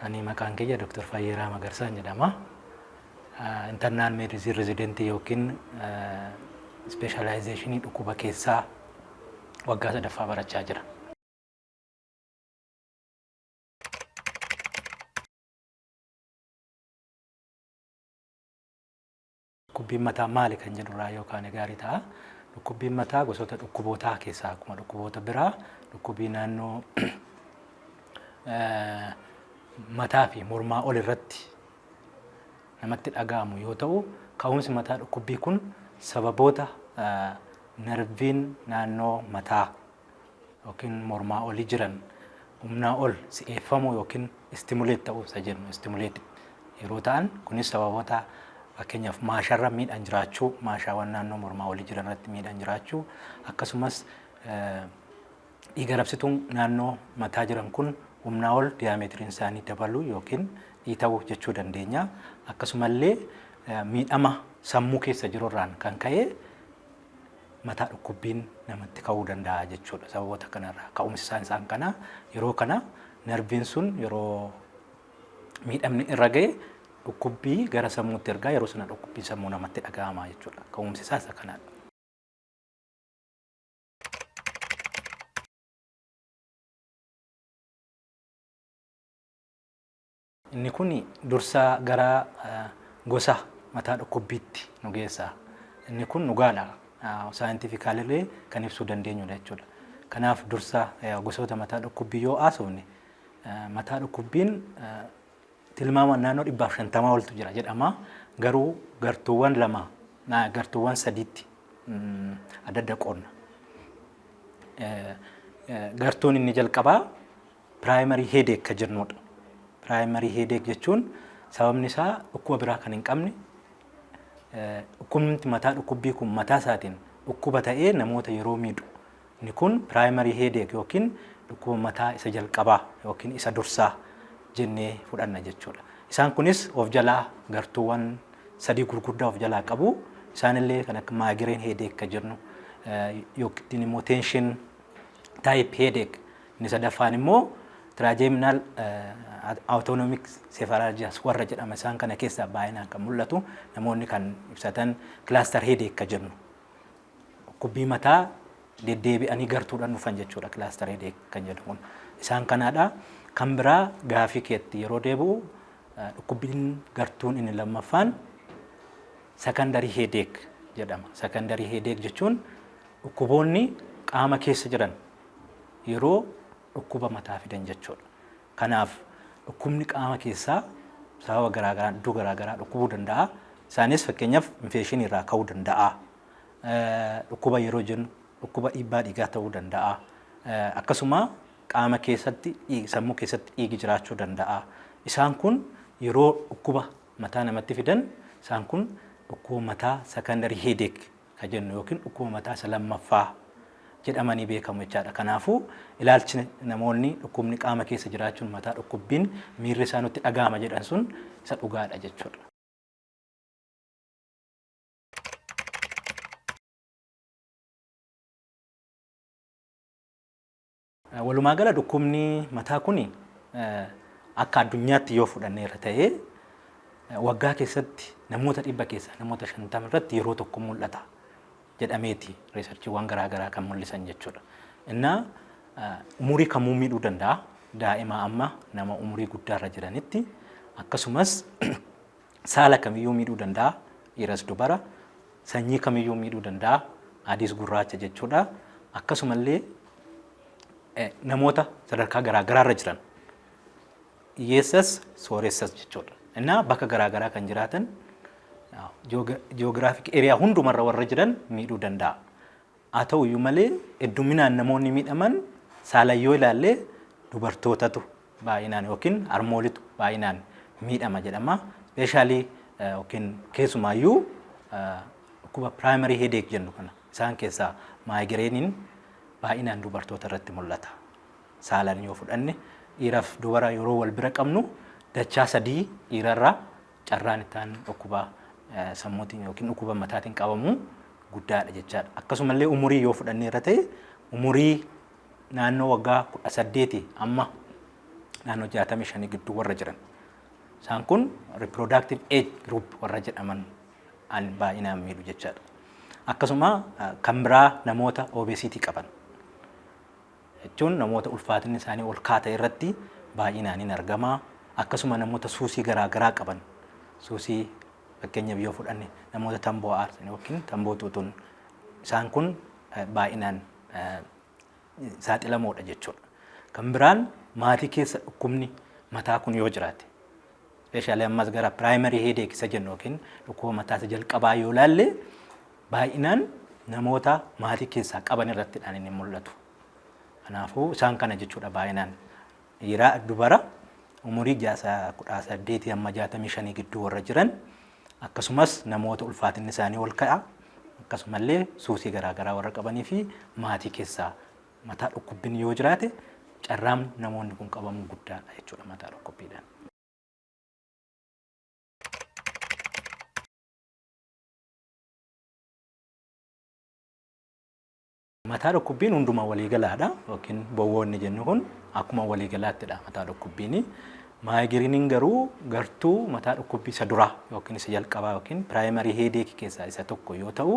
Ani maqaan kiyya Dr. Fayyeeraa Magarsaan jedhama. Internal Medicine Resident yookiin Ispeeshaalaayizeeshinii dhukkuba keessaa waggaa sadaffaa barachaa jira. Dhukkubbiin mataa maali kan jedhu irraa yoo kaane gaarii ta'a. Dhukkubbiin mataa gosoota dhukkubootaa keessaa akkuma dhukkuboota biraa dhukkubii naannoo mataa fi mormaa ol irratti namatti dhaga'amu yoo ta'u ka'umsi mataa dhukkubbii kun sababoota narviin naannoo mataa yookiin mormaa oli jiran humnaa ol si'eeffamuu yookiin istimuleet ta'uu isa jennu istimuleet yeroo ta'an kunis sababoota fakkeenyaaf maasharra miidhaan jiraachuu maashaawwan naannoo mormaa olii jiran irratti miidhaan jiraachuu akkasumas dhiiga rabsituun naannoo mataa jiran kun humnaa ol diyaameetiriin isaanii dabaluu yookiin dhiita'uu jechuu dandeenya akkasumallee miidhama sammuu keessa jirurraan kan ka'e mataa dhukkubbiin namatti ka'uu danda'a jechuudha. Sababoota kanarraa ka'umsi isaan isaan kana yeroo kana narviin sun yeroo miidhamni irra ga'e dhukkubbii gara sammuutti ergaa yeroo sana dhukkubbii sammuu namatti dhaga'ama jechuudha. Ka'umsi isaa isa kanadha. Inni kun dursaa gara gosa mataa dhukkubbiitti nu geessa. Inni kun dhugaadha. Saayintifikaalillee kan ibsuu dandeenyudha jechuudha. Kanaaf dursa gosoota mataa dhukkubbii yoo haasofne mataa dhukkubbiin tilmaamaan naannoo dhibbaaf shantamaa oltu jira jedhama. Garuu gartuuwwan lama gartuuwwan sadiitti adda adda qoodna. Gartuun inni jalqabaa Primary headache ka jennuudha. Primary headache jechuun sababni isaa dhukkuba biraa kan hin qabne dhukkubni mataa dhukkubbii kun mataa isaatiin dhukkuba ta'ee namoota yeroo miidhu inni kun primary headache yookiin dhukkuba mataa isa jalqabaa yookiin isa dursaa jennee fudhanna jechuudha. Isaan kunis of jalaa gartuuwwan sadii gurguddaa of jalaa qabu. Isaanillee kan akka migraine headache ka jennu yookiin immoo tension type headache Inni sadaffaan immoo Trigeminal Autonomic Cephalalgias warra jedhama isaan kana keessaa baay'inaan kan mul'atu namoonni kan ibsatan cluster headache ka jennu dhukkubbii mataa deddeebi'anii gartuudhaan dhufan jechuudha cluster headache kan jedhu kun isaan kanaadha. Kan biraa gaafii keetti yeroo deebi'u dhukkubbiin gartuun inni lammaffaan secondary headache jedhama. Secondary headache jechuun dhukkuboonni qaama keessa jiran yeroo dhukkuba mataa fidan jechuudha. Kanaaf dhukkubni qaama keessaa sababa garaa garaan iddoo garaa garaa dhukkubuu danda'a. Isaanis fakkeenyaaf infeekshinii irraa ka'uu danda'a. Dhukkuba yeroo jennu dhukkuba dhiibbaa dhiigaa ta'uu danda'a. Akkasuma qaama keessatti sammuu keessatti dhiigi jiraachuu danda'a. Isaan kun yeroo dhukkuba mataa namatti fidan isaan kun dhukkuba mataa secondary headache ka jennu ykn dhukkuba mataa isa lammaffaa jedhamanii beekamu jechaadha. Kanaafuu ilaalchi namoonni dhukkubni qaama keessa jiraachuun mataa dhukkubbiin miirri isaa nutti dhaga'ama jedhan sun isa dhugaadha jechuudha. Walumaa gala dhukkubni mataa kuni akka addunyaatti yoo fudhanneerra ta'ee waggaa keessatti namoota dhibba keessaa namoota shantama irratti yeroo tokko mul'ata jedhameeti riisarchiiwwan garaa garaa kan mul'isan jechuudha. Innaa umurii kamuu miidhuu danda'a. Daa'imaa amma nama umurii guddaarra jiranitti akkasumas saala kamiyyuu miidhuu danda'a. Dhiiras dubara. Sanyii kamiyyuu miidhuu danda'a. Adiis gurraacha jechuudha. Akkasumallee namoota sadarkaa garaagaraarra jiran hiyyeessas sooressas jechuudha. Innaa bakka garaagaraa kan jiraatan jiyoogiraafik eriyaa hundumarra warra jiran miidhuu danda'a. Haa ta'u iyyuu malee hedduminaan namoonni miidhaman saalan yoo ilaalle dubartootatu baay'inaan yookiin harmoolitu baay'inaan miidhama jedhama. Ispeeshaalii yookiin keessumaa iyyuu dhukkuba primary headache jennu kana isaan keessaa maayigireeniin baay'inaan dubartoota irratti mul'ata. Saalan yoo fudhanne dhiiraaf dubara yeroo wal bira qabnu dachaa sadii dhiirarraa carraan itti aanuun dhukkuba sammuutiin yookiin dhukkuba mataatiin qabamuu guddaadha jechaadha. Akkasumallee umurii yoo fudhannee irra ta'e umurii naannoo waggaa kudha saddeeti amma naannoo jaatamii shanii gidduu warra jiran. Isaan kun reproductive age group warra jedhaman an baay'inaan miidhu jechaadha. Akkasuma kan biraa namoota obesiitii qaban. jechuun namoota ulfaatinni isaanii ol ka'aa ta'e irratti baay'inaan in argama. Akkasuma namoota suusii garaa garaa qaban suusii fakkeenyaaf yoo fudhanne namoota tamboo aarsan yookiin tamboo xuuxun isaan kun eh, baay'inaan eh, saaxilamoodha jechuudha. Kan biraan maatii keessa dhukkubni mataa kun yoo jiraate ispeeshaalii ammas gara piraayimarii heedeek isa jennu yookiin dhukkuba mataa isa jalqabaa yoo ilaalle Baay'inaan namoota maatii keessaa qaban irratti dhaan inni mul'atu. Kanaafuu isaan kana jechuu dha baay'inaan dhiira dubara umurii jaasa kudhaa saddeetii amma jaatamii shanii gidduu warra jiran akkasumas namoota ulfaatinni isaanii ol ka'a akkasumallee suusii garaa garaa warra qabanii fi maatii keessaa mataa dhukkubbiin yoo jiraate carraan namoonni kun qabamuu guddaa dha jechuudha mataa dhukkubbiidhaan. Mataa dhukkubbiin hunduma waliigalaadha yookiin bowwoo inni jennu kun akkuma waliigalaattidha mataa dhukkubbiin. Maayigiriiniin garuu gartuu mataa dhukkubbii isa duraa yookiin isa jalqabaa yookiin piraayimarii heedeekii keessaa isa tokko yoo ta'u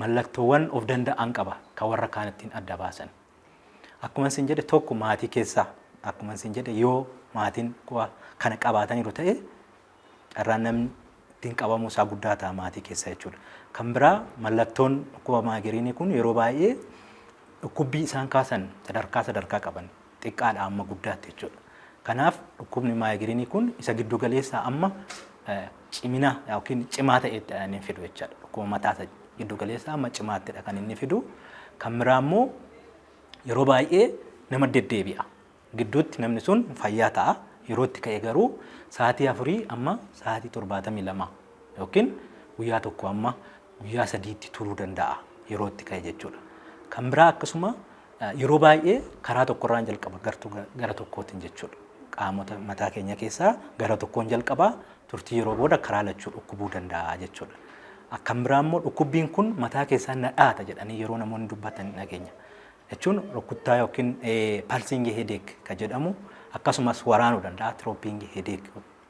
mallattoowwan of danda'an qaba kan warra kaan ittiin adda baasan. Akkuma isin jedhe tokko maatii keessaa akkuma isin jedhe yoo maatiin kana qabaataniiru ta'e carraan namni ittiin qabamuu isaa guddaa ta'a maatii keessa jechuudha. Kan biraa mallattoon dhukkuba maagiriinii kun yeroo baay'ee dhukkubbii isaan kaasan sadarkaa sadarkaa qaban xiqqaadha amma guddaatti jechuudha. Kanaaf dhukkubni maagiriinii kun isa giddu galeessaa amma cimina yookiin cimaa ta'etti inni fidu jechaadha. Dhukkuba mataa isa giddu galeessaa amma cimaattidha kan inni fidu. Kan biraa immoo yeroo baay'ee nama deddeebi'a. gidduutti namni sun fayyaa ta'a. Yeroo itti ka'e garuu sa'aatii afurii amma sa'aatii 72 yookiin guyyaa tokko amma guyyaa sadiitti turuu danda'a yeroo itti ka'e jechuudha. Kan biraa akkasuma yeroo baay'ee karaa tokkorraan jalqaba gartuu gara tokkootiin jechuudha. Qaamota mataa keenya keessaa gara tokkoon jalqaba turtii yeroo booda karaa lachuu dhukkubuu danda'a jechuudha. Akkan biraa immoo dhukkubbiin kun mataa keessaa na dhaata jedhanii yeroo namoonni dubbatan dhageenya. jechuun rukkuttaa yookiin pulsing headache ka jedhamu akkasumas waraanuu danda'a throbbing headache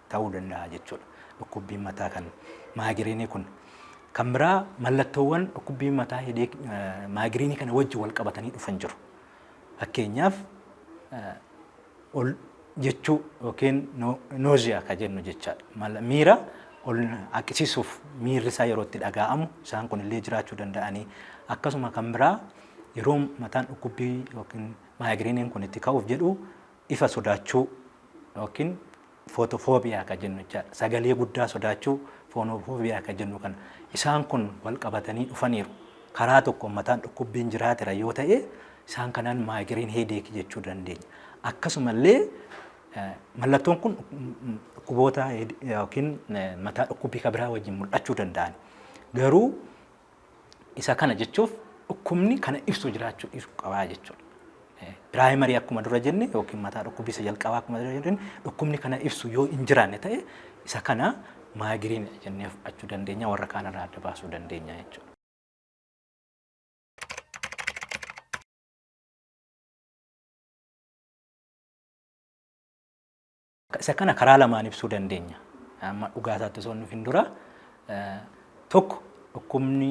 ta'uu danda'a jechuudha. Dhukkubbiin mataa kan maagiriinii kun. Kan biraa mallattoowwan dhukkubbii mataa hedeek maagiriinii kana wajji wal qabatanii dhufan jiru. Fakkeenyaaf ol jechuu yookiin nooziyaa ka jennu jechaadha. Mala- Miira ol haqisiisuuf miirri isaa yeroo itti dhagaa'amu isaan kun illee jiraachuu danda'anii akkasuma kan biraa Yeroo mataan dhukkubbii yookiin maayigiriiniin kun itti ka'uuf jedhu ifa sodaachuu yookiin footofoobiyaa kan jennu jechaadha. Sagalee guddaa sodaachuu foonofoobiyaa kan jennu kana. Isaan kun wal qabatanii dhufaniiru. Karaa tokkoon mataan dhukkubbiin jiraatera yoo ta'e isaan kanaan maayigiriin heedeekii jechuu dandeenya. Akkasumallee mallattoon kun dhukkuboota yookiin mataa dhukkubbii kan biraa wajjin mul'achuu danda'an. Garuu Isa kana jechuuf dhukkubni kana ibsu jiraachuu dhiisuu qabaa jechuudha. Piraayimarii akkuma dura jenne yookiin mataa dhukkubbii isa jalqabaa akkuma dura jenne dhukkubni kana ibsu yoo hin jiraanne ta'e isa kana maagiriin jennee fudhachuu dandeenya warra kaan irraa adda baasuu dandeenya jechuudha. Isa kana karaa lamaan ibsuu dandeenya. Amma dhugaa isaatti osoo hin dhufin dura tokko dhukkubni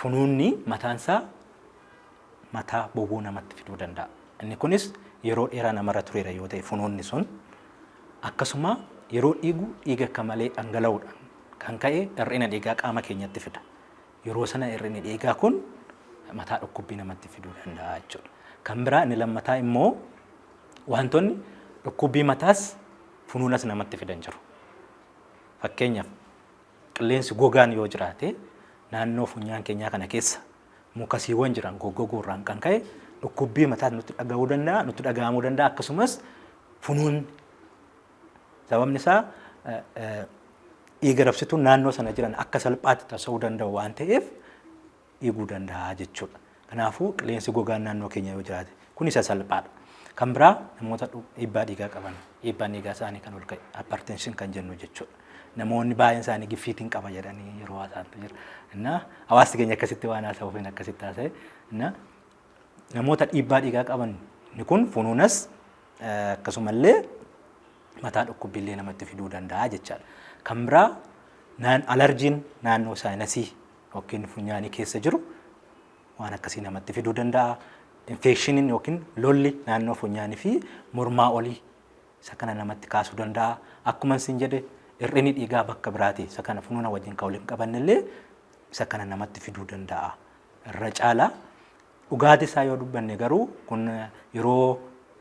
funuunni mataan isaa mataa bowwoo namatti fiduu danda'a. Inni kunis yeroo dheeraa namarra tureera yoo ta'e funuunni sun akkasuma yeroo dhiigu dhiiga akka malee dhangala'uudhaan kan ka'e hir'ina dhiigaa qaama keenyatti fida. Yeroo sana hir'inni dhiigaa kun mataa dhukkubbii namatti fiduu danda'a jechuudha. Kan biraa inni lammataa immoo Wantoonni dhukkubbii mataas funuunas namatti fidan jiru. Fakkeenyaaf qilleensi gogaan yoo jiraate naannoo funyaan keenyaa kana keessa mukasiiwwan jiran goggoguu irraan kan ka'e dhukkubbii mataas nutti dhaga'uu danda'a, nutti dhaga'amuu danda'a akkasumas funuunni sababni isaa dhiiga rabsituun naannoo sana jiran akka salphaatti tasa'uu danda'u waan ta'eef dhiiguu danda'a jechuudha. Kanaafuu qilleensi gogaan naannoo keenya yoo jiraate kun isa salphaadha. Kan biraa namoota dhiibbaa dhiigaa qaban dhiibbaan dhiigaa isaanii kan ol ka'e hypertension kan jennu jechuudha. Namoonni baay'een isaanii giffiitiin qaba jedhanii yeroo haasa'antu jira. Innaa hawaasti keenya akkasitti waan haasa'uuf hin akkasitti haasa'e. Innaa namoota dhiibbaa dhiigaa qaban inni kun funuunas akkasumallee mataa dhukkubbiillee namatti fiduu danda'a jechaadha. Kan biraa alarjiin naannoo saayinasii Dhokkeen funyaanii keessa jiru waan akkasii namatti fiduu danda'a. Infeekshiniin yookiin lolli naannoo funyaanii fi mormaa olii isa kana namatti kaasuu danda'a. Akkuma isin jedhe hir'inni dhiigaa bakka biraati isa kana funuuna wajjin kan wal hin qabanne illee isa kana namatti fiduu danda'a. Irra caala dhugaatii isaa yoo dubbanne garuu kun yeroo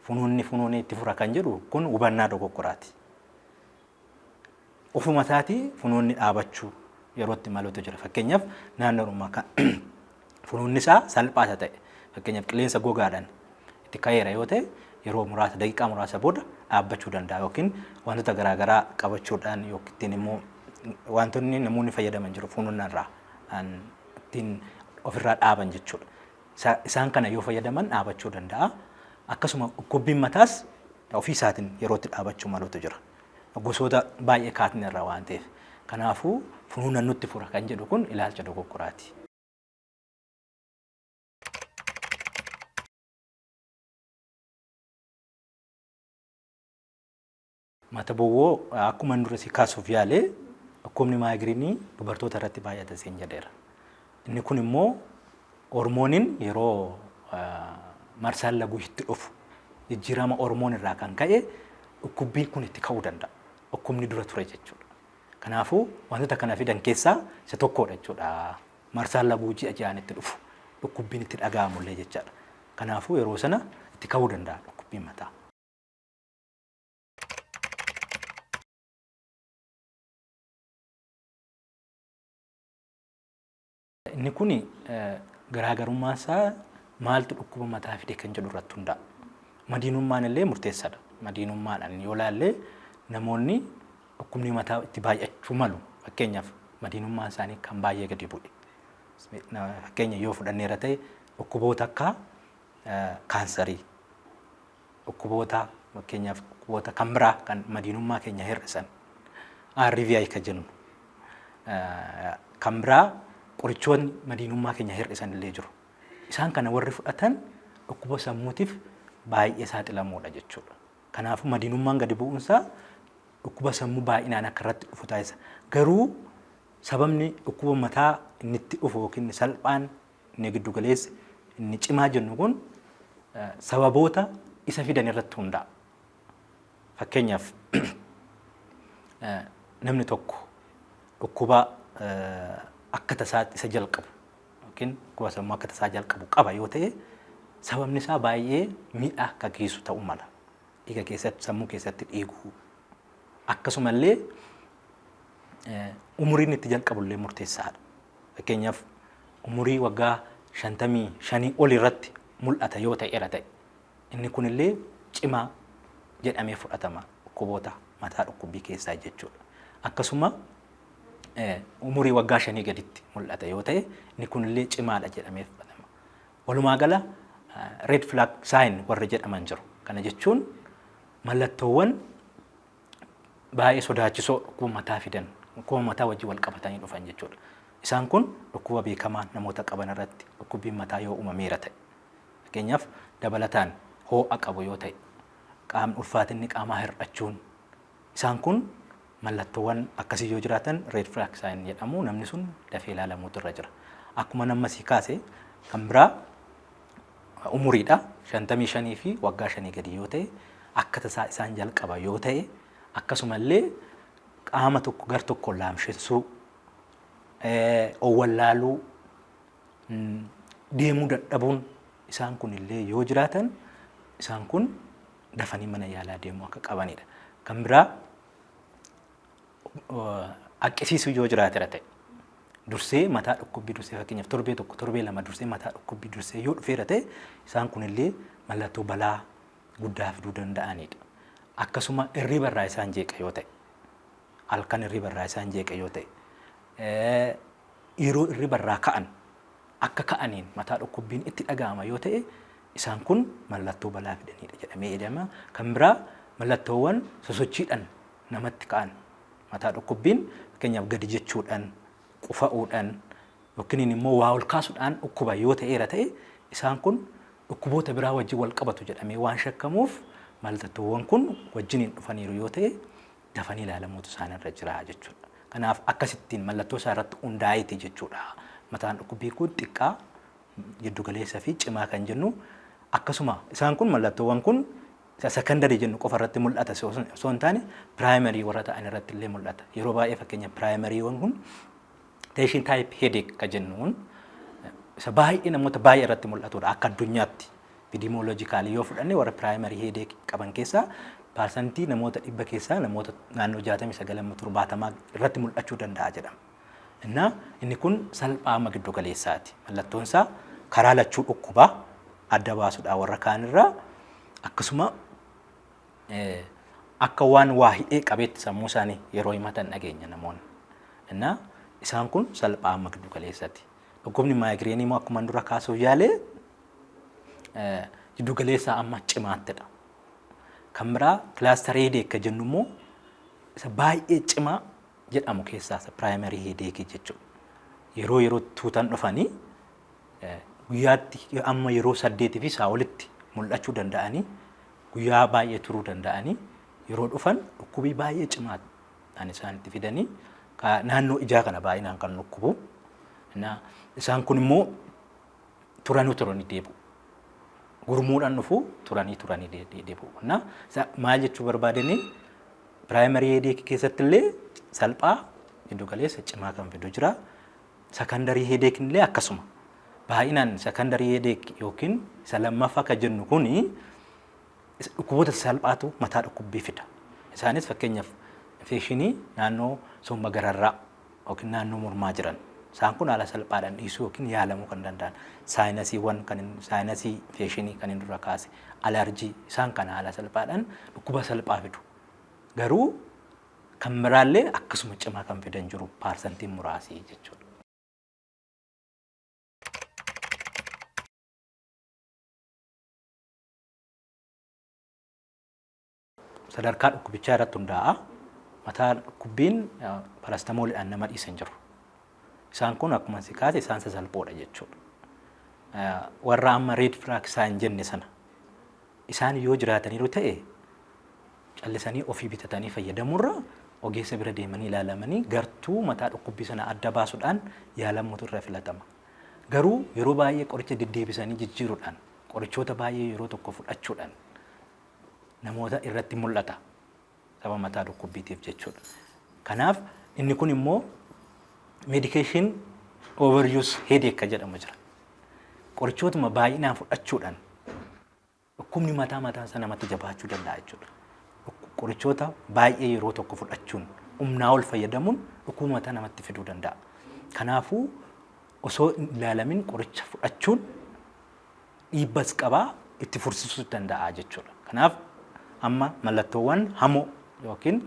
funuunni funuunee itti fura kan jedhu kun hubannaa dogoggoraati. ofuma isaatii funoonni dhaabachuu yeroo itti maluutu jira. Fakkeenyaaf naannoodhuma kan funoonni isaa salphaa isa ta'e fakkeenyaaf qilleensa gogaadhaan itti ka'eera yoo ta'e yeroo muraasa daqiiqaa muraasa booda dhaabbachuu danda'a yookiin wantoota garaagaraa qabachuudhaan yookiin immoo wantoonni namoonni fayyadaman jiru funoonni irraa ittiin ofirraa dhaaban jechuudha. Isaan kana yoo fayyadaman dhaabachuu danda'a. Akkasuma dhukkubbiin mataas ofii isaatiin yeroo itti dhaabachuu malutu jira. Gosoota baay'ee kaatne irraa waan ta'eef. Kanaafuu funuunan nutti fura kan jedhu kun ilaalcha dogoggoraati. Mata bowwoo akkuman dura si kaasuuf yaale dhukkubni maayigiriinii dubartoota irratti baay'ata siin jedheera. Inni kun immoo hormooniin yeroo marsaan laguu itti dhufu jijjiirama hormoon irraa kan ka'e dhukkubbiin kun itti ka'uu danda'a. Dhukkubni dura ture jechuudha. Kanaafuu wantoota kana fidan keessaa isa tokkodha jechuudha. Marsaan laguu ji'a ji'aan itti dhufu dhukkubbiin itti dhaga'amullee jechaadha. Kanaafuu yeroo sana itti ka'uu danda'a dhukkubbiin mataa. Inni kun garaagarummaan isaa maaltu dhukkuba mataa fide kan jedhu irratti hundaa'a. Madiinummaan illee murteessaadha. Madiinummaadhaan yoo ilaalle namoonni dhukkubni mataa itti baay'achuu malu. Fakkeenyaaf madiinummaan isaanii kan baay'ee gadi bu'e. Fakkeenya yoo fudhanneera ta'e dhukkuboota akka kaansarii, Dhukkuboota fakkeenyaaf dhukkuboota kan biraa kan madiinummaa keenya hir'isan RVI kan jennu kan biraa qorichoonni madiinummaa keenya hir'isan illee jiru. Isaan kana warri fudhatan dhukkuba sammuutiif baay'ee saaxilamoodha jechuudha. Kanaafuu madiinummaan gadi bu'uunsaa dhukkuba sammuu baay'inaan akka irratti dhufu taasisa. Garuu sababni dhukkuba mataa inni itti dhufu yookiin salphaan inni giddu galeessi, inni cimaa jennu kun sababoota isa fidan irratti hundaa'a. Fakkeenyaaf namni tokko dhukkuba akka tasaatti isa jalqabu yookiin dhukkuba sammuu akka tasaa jalqabu qaba yoo ta'e sababni isaa baay'ee miidhaa akka geessu ta'uu mala. Dhiiga keessatti sammuu keessatti dhiiguu akkasumallee umuriin itti jalqabullee murteessaadha. Fakkeenyaaf, umurii waggaa 55 oli irratti mul'ata yoo ta'eera ta'e, inni kun illee cimaa jedhamee fudhatama, dhukkuboota mataa dhukkubbii keessaa jechuu dha. Akkasuma umurii waggaa shanii gaditti mul'ata yoo ta'e, inni kun illee cimaa dha jedhamee fudhatama. Walumaa gala red flag sign warri jedhaman jiru. Kana jechuun mallattoowwan baay'ee sodaachisoo dhukkuba mataa fidan dhukkuba mataa wajjin wal qabatanii dhufan jechuudha. Isaan kun dhukkuba beekamaa namoota qaban irratti dhukkubbiin mataa yoo uumameera ta'e fakkeenyaaf dabalataan hoo'a qabu yoo ta'e qaamni ulfaatinni qaamaa hir'achuun isaan kun mallattoowwan akkasii yoo jiraatan red flag sign jedhamu namni sun dafee ilaalamuutu irra jira. Akkuma namma sii kaase kan biraa umuriidha 55 fi waggaa shanii gadi yoo ta'e akka tasaa isaan jalqaba yoo ta'e akkasuma illee qaama tokko gar tokkoon laamshessuu owwallaaluu deemuu dadhabuun isaan kun illee yoo jiraatan isaan kun dafanii mana yaalaa deemuu akka qabanidha. Kan biraa akkisiisuu yoo jiraatera ta'e dursee mataa dhukkubbii dursee fakkeenyaaf torbee tokko torbee lama dursee mataa dhukkubbii dursee yoo dhufeera ta'e isaan kunillee mallattoo balaa guddaa fiduu danda'anidha. Akkasuma irriba irraa isaan jeeqa yoo ta'e halkan irriba irraa isaan jeeqa yoo ta'e yeroo irriba irraa ka'an akka ka'aniin mataa dhukkubbiin itti dhaga'ama yoo ta'e isaan kun mallattoo balaa fidanidha jedhamee jedhama. Kan biraa mallattoowwan sosochiidhaan namatti ka'an Mataa dhukkubbiin fakkeenyaaf gadi jechuudhaan, qufa'uudhaan yookiin immoo waa ol kaasuudhaan dhukkuba yoo ta'eera ta'e isaan kun dhukkuboota biraa wajjin wal qabatu jedhamee waan shakkamuuf mallattoowwan kun wajjiniin dhufaniiru yoo ta'e dafanii ilaalamuutu isaan irra jira jechuudha. Kanaaf akkasittiin mallattoo isaa irratti hundaa'eeti jechuudha. Mataan dhukkubbii kun xiqqaa, jiddugaleessa fi cimaa kan jennu akkasuma isaan kun mallattoowwan kun isa secondary jennu qofa irratti mul'ata osoo hin taane primary warra ta'an irratti illee mul'ata. Yeroo baay'ee fakkeenya primary wan kun tension type headache ka jennu kun isa baay'ee namoota baay'ee irratti mul'atudha akka addunyaatti. Epidemiologically yoo fudhanne warra primary headache qaban keessaa parsantii namoota dhibba keessaa namoota naannoo 69 70 irratti mul'achuu danda'a jedhama. Innaa, inni kun salphaa amma giddu galeessaati. Mallattoon isaa karaa lachuu dhukkuba adda baasudha warra kaan irraa. Akkasuma akka waan waa hidhee qabeetti sammuu isaanii yeroo himatan dhageenya namoonni. Innaa isaan kun salphaa amma giddu galeessati. Dhukkubni maayigireenii immoo akkuma dura kaasuuf yaale giddu galeessaa amma cimaattidha. Kan biraa kilaastarii heedeek kan jennu immoo isa baay'ee cimaa jedhamu keessaa isa primary headache jechuudha. Yeroo yerootti tuutan dhufanii eh, guyyaatti amma yeroo saddeetii fi isaa olitti mul'achuu danda'anii guyyaa baay'ee turuu danda'anii yeroo dhufan dhukkubii baay'ee cimaa kan isaan itti fidanii ka- naannoo ijaa kana baay'inaan kan dhukkubu. Na- Isaan kun immoo turanu turani deebi'u. Gurmuudhaan dhufu turanii turanii de- de- deebi'u. Na sa- maal jechuu barbaadanii piraayimarii heedeekii keessatti illee salphaa giddu galeessa cimaa kan fidu jira. Sakandarii heedeekiin illee akkasuma. Baay'inaan sakandarii heedeek yookiin isa lammaffaa kan jennu kuni isa dhukkuboota salphaatu mataa dhukkubbii fida. Isaanis fakkeenyaaf infekshinii naannoo somba gararraa ykn naannoo mormaa jiran. Isaan kun haala salphaadhaan dhiisuu ykn yaalamuu kan danda'an. Saayinasiiwwan kan inni saayinasii infeeshinii kan inni dura kaase, alarjii isaan kana haala salphaadhaan dhukkuba salphaa fidu. Garuu kan biraallee akkasuma cimaa kan fidan jiru paarsantiin muraasii jechuudha. Sadarkaa dhukkubichaa irratti hundaa'a. Mataa dhukkubbiin parastamoolidhaan nama dhiisu hin jiru. Isaan kun akkuma si kaase isaan sasalphoodha jechuudha. Warra amma reed firaak isaa hin jenne sana isaan yoo jiraataniiru ta'e callisanii ofii bitatanii fayyadamurra ogeessa bira deemanii ilaalamanii gartuu mataa dhukkubbii sana adda baasuudhaan yaalamuutu irra filatama. Garuu yeroo baay'ee qoricha deddeebisanii jijjiiruudhaan qorichoota baay'ee yeroo tokko fudhachuudhaan namoota irratti mul'ata. Sababa mataa dhukkubbiitiif jechuudha. Kanaaf inni kun immoo medication overuse headache kan jedhamu jira. Qorichootuma baay'inaan fudhachuudhaan dhukkubni mataa mataan isaa namatti jabaachuu danda'a jechuudha. Dhukku- Qorichoota baay'ee yeroo tokko fudhachuun humnaa ol fayyadamuun dhukkuba mataa namatti fiduu danda'a. Kanaafuu osoo hin ilaalamin qoricha fudhachuun dhiibbas qaba itti fursiisuus danda'a jechuudha. Kanaaf amma mallattoowwan hamoo yookiin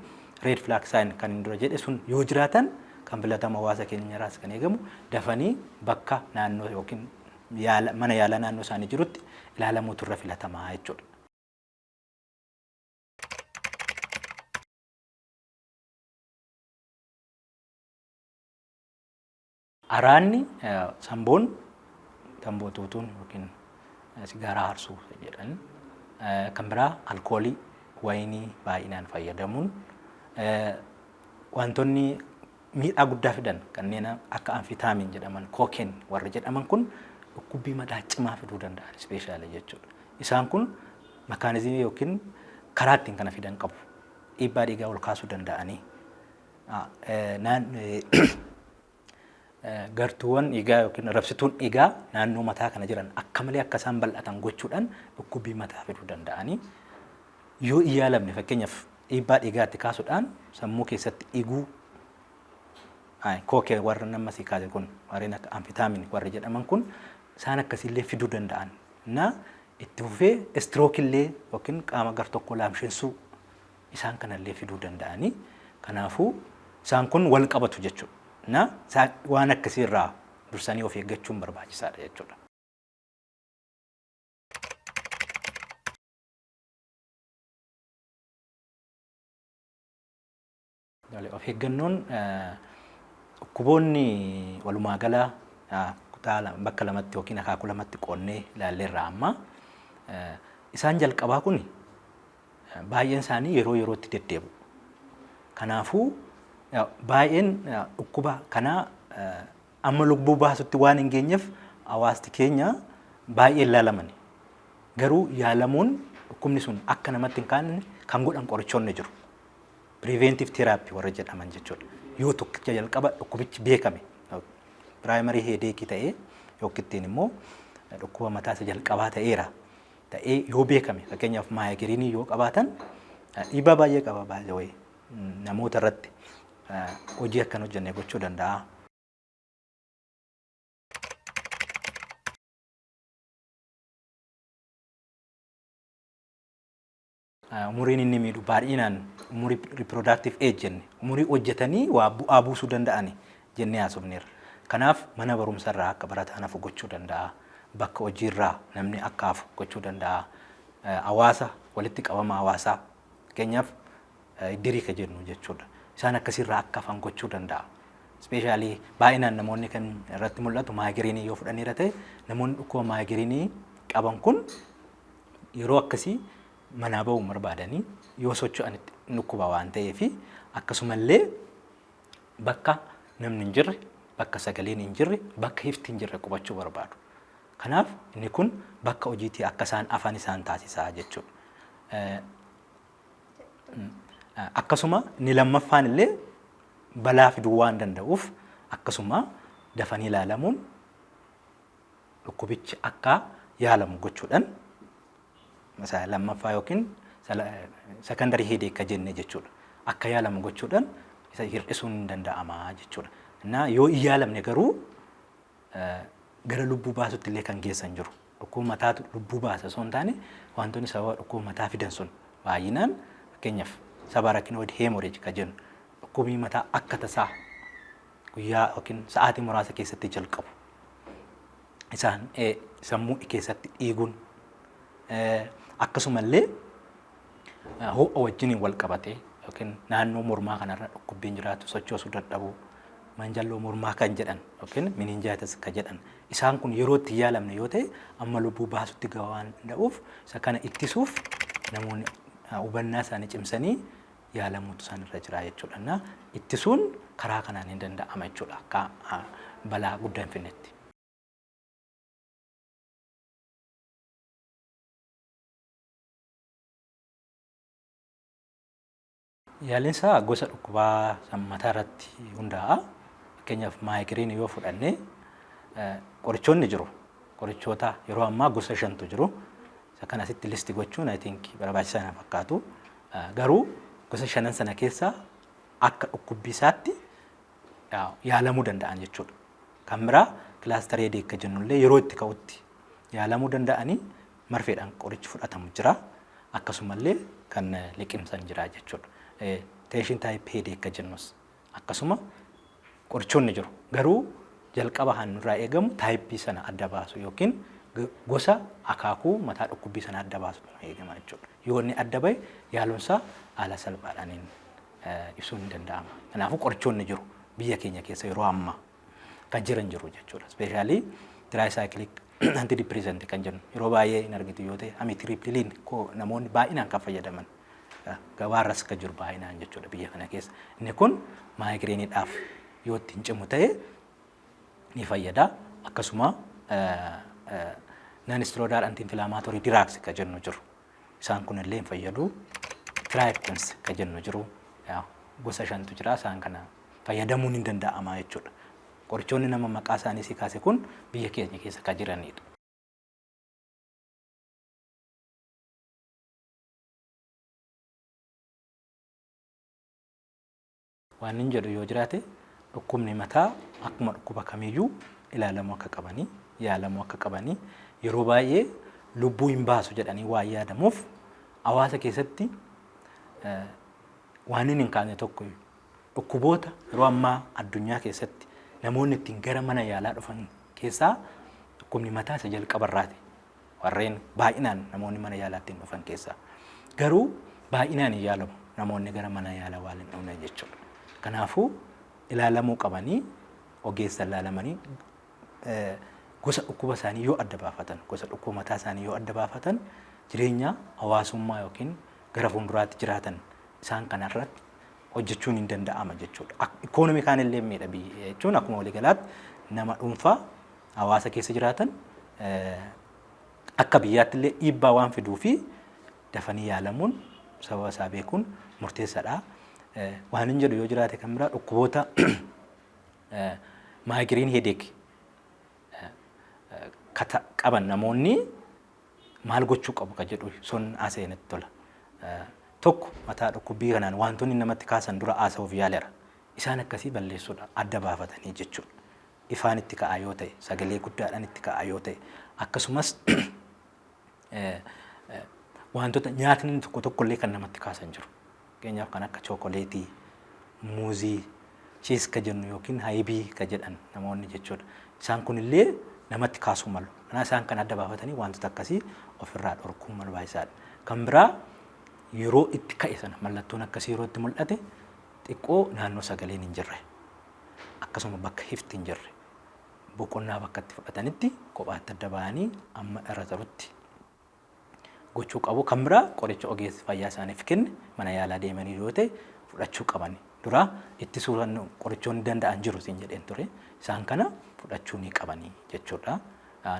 red flag sign kan hin dura jedhe sun yoo jiraatan kan filatama hawaasa keenyarraas kan eegamu dafanii bakka naannoo yookiin yaala mana yaalaa naannoo isaanii jirutti ilaalamuutu irra filatamaa jechuudha. Araadni samboon tamboo xuuxuun yookiin sigaaraa harsuu jedhan kan biraa alkoolii wayinii baay'inaan fayyadamuun wantoonni miidhaa guddaa fidan kanneen akka anfitaamiin jedhaman kookeen warri jedhaman kun dhukkubbii madaa cimaa fiduu danda'an ispeeshaalii jechuudha. Isaan kun makaanizimii yookiin karaa ittiin kana fidan qabu. Dhiibbaa dhiigaa ol kaasuu danda'anii Gartuuwwan dhiigaa yookiin rabsituun dhiigaa naannoo mataa kana jiran akka malee akka isaan bal'atan gochuudhaan dhukkubbii mataa fiduu danda'anii yoo hin yaalamne fakkeenyaaf dhiibbaa dhiigaa itti kaasuudhaan sammuu keessatti dhiguu Ayi, kookee warra nama si kaase kun warreen akka amfitaamin warri jedhaman kun isaan akkasiillee fiduu danda'an na itti fufee istirookillee yookiin qaama gar tokko laamshessuu isaan kana illee fiduu danda'anii kanaafuu isaan kun wal qabatu jechuudha. Na isaan waan akkasii irraa dursanii of eeggachuun barbaachisaadha jechuudha. Of eeggannoon dhukkuboonni walumaa gala kutaa bakka lamatti yookiin akaakuu lamatti qoonnee ilaalleerra amma. Isaan jalqabaa kun baay'een isaanii yeroo yerootti deddeebi'u. Kanaafuu baay'een dhukkuba kanaa amma lubbuu baasutti waan hin geenyeef hawaasti keenya baay'ee hin laalamani. Garuu yaalamuun dhukkubni sun akka namatti hin kaanne kan godhan qorichoonni jiru. Preventive therapy warra jedhaman jechuudha. Yoo tokkicha jalqaba dhukkubichi beekame primary headache ta'ee yookiin immoo dhukkuba mataa isa jalqabaa ta'eera ta'ee yoo beekame fakkeenyaaf maayigiriinii yoo qabaatan dhiibbaa baay'ee qaba baay'ee wayii namoota irratti hojii akkan hojjenne gochuu danda'a. Umuriin inni miidhu baay'inaan umurii reproductive age jenne umurii hojjetanii waa bu'aa buusuu danda'ani jennee haasofneerra. Kanaaf mana barumsarraa akka barataan hafu gochuu danda'a. Bakka hojiirraa namni akka hafu gochuu danda'a. Hawaasa walitti qabama hawaasaa fakkeenyaaf iddirii ka jennu jechuudha. Isaan akkasirraa akka hafan gochuu danda'a. Ispeeshaalii baay'inaan namoonni kan irratti mul'atu maayigiriinii yoo fudhanneera ta'e namoonni dhukkuba maayigiriinii qaban kun Yeroo akkasii manaa ba'uu hin barbaadani. Yoo socho'an itti hin dhukkuba waan ta'eef akkasumallee bakka namni hin jirre, bakka sagaleen hin jirre, bakka ifti hin jirre qubachuu barbaadu. Kanaaf inni kun bakka hojiitii akka isaan afan isaan taasisa jechuudha. Akkasuma inni lammaffaan illee balaa fiduu waan danda'uuf akkasuma dafanii ilaalamuun dhukkubichi akka yaalamu gochuudhaan isa lammaffaa yookiin secondarii headache ka jenne jechuudha. Akka yaalamu gochuudhaan isa hir'isuun ni danda'ama jechuudha. Innaa yoo hin yaalamne garuu gara lubbuu baasutti illee kan geessan jiru. Dhukkuba mataatu lubbuu baasa osoo hin taane wantoonni sababa dhukkuba mataa fidan sun baay'inaan fakkeenyaaf sabarakinoid hemorrhage ka jennu dhukkubni mataa akka tasaa guyyaa yookiin sa'aatii muraasa keessatti jalqabu. Isaan sammuu keessatti dhiiguun akkasumallee ho'a wajjiniin wal qabatee yookiin naannoo mormaa kanarra dhukkubbiin jiraatu sochoosuu dadhabuu manjalloo mormaa kan jedhan yookiin mininjaayitas kan jedhan isaan kun yeroo itti yaalamne yoo ta'e amma lubbuu baasutti gahaa waan danda'uuf isa kana ittisuuf namoonni hubannaa isaanii cimsanii yaalamuutu isaan irra jira jechuudha. Na ittisuun karaa kanaan hin danda'ama jechuudha akka ah, balaa guddaa hin finnetti. Yaaliin isaa gosa dhukkubaa san mataa irratti hundaa'a. Fakkeenyaaf maayigiriinii yoo fudhanne eh, qorichoonni jiru. Qorichoota yeroo ammaa gosa shantu jiru. Isa kana asitti list gochuun I think barbaachisaa na fakkaatu. Garuu gosa shanan sana keessaa akka dhukkubbii isaatti yaalamuu danda'an jechuudha. Kan biraa kilaastarii hedeek akka jennullee yeroo itti ka'utti yaalamuu danda'anii marfeedhaan qorichi fudhatamu jira. Akkasumallee kan liqimsan jira jechuudha. Teeshin taayip hedeek akka jennus. Akkasuma qorichoonni jiru. Garuu jalqaba kan nurraa eegamu taayippii sana adda baasuu yookiin gosa akaakuu mataa dhukkubbii sana adda baasutu nu eegama jechuudha. Yoo inni adda bahe yaalunsaa haala salphaadhaaniin ibsuun hin danda'ama. Kanaafuu qorichoonni jiru biyya keenya keessa yeroo ammaa kan jiran jiru jechuudha. Ispeeshaalii tiraayisaayikiliik antidipireesanti kan jennu yeroo baay'ee hin argitu yoo ta'e amitiriipiliin namoonni baay'inaan kan fayyadaman gabaarras akka jiru baay'inaan jechuudha biyya kana keessa. Inni kun maayigreeniidhaaf yoo ittiin cimu ta'e ni fayyada. Akkasuma naan istiroodaal antiinfilaamaatorii diraaks akka jennu jiru. Isaan kunillee hin fayyadu. Tiraayiptins akka jennu jiru. Gosa shantu jira isaan kana fayyadamuun ni danda'ama jechuudha. Qorichoonni nama maqaa isaanii si kaase kun biyya keenya keessa kan jiranidha. Waanin jedhu yoo jiraate dhukkubni mataa akkuma dhukkuba kamiiyyuu ilaalamuu akka qabanii, yaalamuu akka qabanii, yeroo baay'ee lubbuu hin baasu jedhanii waan yaadamuuf hawaasa keessatti waanin hin kaane tokko dhukkuboota yeroo ammaa addunyaa keessatti namoonni ittiin gara mana yaalaa dhufan keessaa dhukkubni mataa isa jalqaba irraati. warreen baay'inaan namoonni mana yaalaa ittiin dhufan keessaa. Garuu baay'inaan hin yaalamu namoonni gara mana yaalaa waan hin dhufne jechuudha. Kanaafuu ilaalamuu qabanii ogeessan ilaalamanii eh, gosa dhukkuba isaanii yoo adda baafatan gosa dhukkuba mataa isaanii yoo adda baafatan jireenya hawaasummaa yookiin gara fuulduraatti jiraatan isaan kanarratti hojjechuun hin danda'ama jechuudha. Ak- Ikoonoomii kaan illee miidha biyya jechuun akkuma waliigalaatti nama dhuunfaa hawaasa keessa jiraatan akka biyyaatti illee dhiibbaa waan fiduu fi dafanii yaalamuun sababa isaa beekuun murteessaadha. Waan hin jedhu yoo jiraate kan biraa dhukkuboota maayigiriin heedeek kata qaban namoonni maal gochuu qabu ka jedhu sun haasa'e natti tola. Tokko mataa dhukkubbii kanaan wantoonni namatti kaasan dura haasa'uuf yaaleera. Isaan akkasii balleessuudha adda baafatanii jechuudha. ifaan itti ka'aa yoo ta'e, sagalee guddaadhaan itti ka'aa yoo ta'e, akkasumas wantoota nyaatni tokko tokko illee kan namatti kaasan jiru. Fakkeenyaaf kan akka chookoleetii, muuzii, chiis ka jennu yookiin hayibii ka jedhan namoonni jechuudha. Isaan kun illee namatti kaasuu malu. Kanaa isaan kan adda baafatanii wantoota akkasii ofirraa dhorkuun barbaachisaadha. Kan biraa yeroo itti ka'e sana mallattoon akkasii yeroo itti mul'ate xiqqoo naannoo sagaleen hin jirre akkasuma bakka ifti hin jirre boqonnaa bakka itti fudhatanitti kophaatti adda bahanii amma irra tarutti gochuu qabu. Kan biraa qoricha ogeessi fayyaa isaaniif kenne mana yaalaa deemanii yoo ta'e fudhachuu qaban. Duraa ittisuu qorichoonni danda'an jiru siin jedheen ture. Isaan kana fudhachuu ni qabanii jechuudha.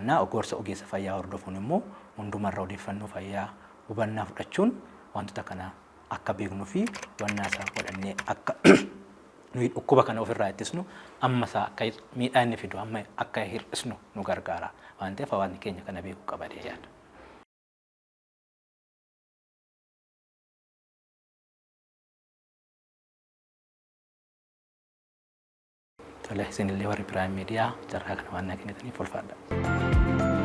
Na gorsa ogeessa fayyaa hordofuun immoo hundumarra odeeffannoo fayyaa hubannaa fudhachuun wantoota kana akka beeknuu fi hubannaa isaa godhannee akka nuyi dhukkuba kana ofirraa ittisnu amma isaa akka miidhaa inni fidu amma akka hir'isnu nu gargaara waan ta'eef hawaasni keenya kana beekuu qaba jedhee yaada. Tole isinillee warri Piraayim Miidiyaa carraa kana waan naa kennitaniif ulfaadha.